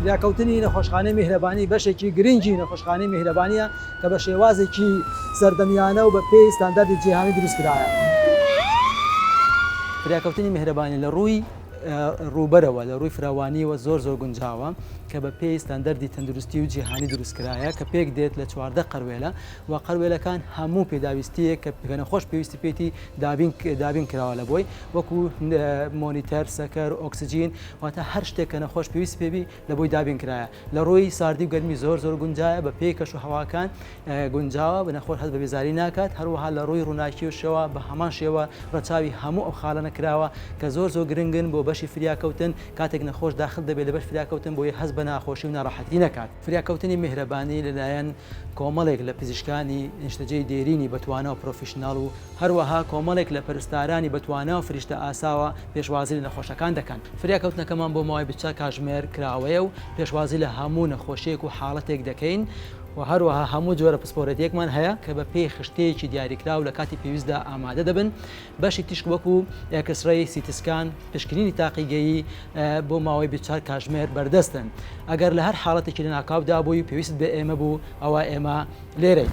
فریاکەوتنی نەخۆشخانەی میهرەبانی بەشێکی گرنگی نەخۆشخانەی میهرەبانییە کە بە شێوازێکی سەردەمیانە و بە پێی ستانداردی جیهانی دروست کرایە. فریاکەوتنی میهرەبانی لە ڕووی ڕووبەرەوە لە ڕووی فراوانییەوە زۆر زۆر گونجاوە کە بە پێی ستانداردی تەندروستی و جیهانی دروست کرایە کە پێک دێت لە چواردە قەروێلە و قەروێلەکان هەموو پێداویستییەک کە نەخۆش پێویستی پێیتی دابین کراوە لەبۆی وەکو مۆنیتەر سەکەر ئۆکسسیجین واتە هەر شتێک کە نەخۆش پێویست پێبی لە بۆی دابین کرایە لە ڕووی ساردی و گەرمی زۆر زۆر گونجایە بە پێی کەش و هەواکان گونجاوە بە نەخۆش هەست بە بێزاری ناکات هەروەها لە ڕووی ڕووناکی و شێوە بە هەمان شێوە ڕەچاوی هەموو ئەو خاڵە نەکراوە کە زۆر زۆر گرنگن بۆ بەشی فریاکەوتن کاتێک نەخۆش داخل دەبێت لە بەش فریاکەوتن بۆی هەست بە ناخۆشی و ناڕەحەتی نەکات. فریاکەوتنی میهرەبانی لەلایەن کۆمەڵێک لە پزیشکانی نیشتەجێی دێرینی بەتوانا و پرۆفیشناڵ و هەروەها کۆمەڵێک لە پەرستارانی بەتوانا و فریشتە ئاساوە پێشوازی لە نەخۆشەکان دەکەن. فریاکەوتنەکەمان بۆ ماوەی بیست کاژمێر کراوەیە و پێشوازی لە هەموو نەخۆشییەک و حاڵەتێک دەکەین و هەروەها هەموو جۆرە پسپۆرێتییەکمان هەیە کە بەپێی خشتەیەکی دیاریکراو لە کاتی پێویستدا ئامادە دەبن. بەشی تیشک وەکو ئێکسرەی، سیتی سکان، پشکنینی تاقیگەیی بۆ ماوەی بیست و چوار کاتژمێر بەردەستن. ئەگەر لە هەر حاڵەتێکی لەناکاودا بووی و پێویستت بە ئێمە بوو، ئەوا ئێمە لێرەین.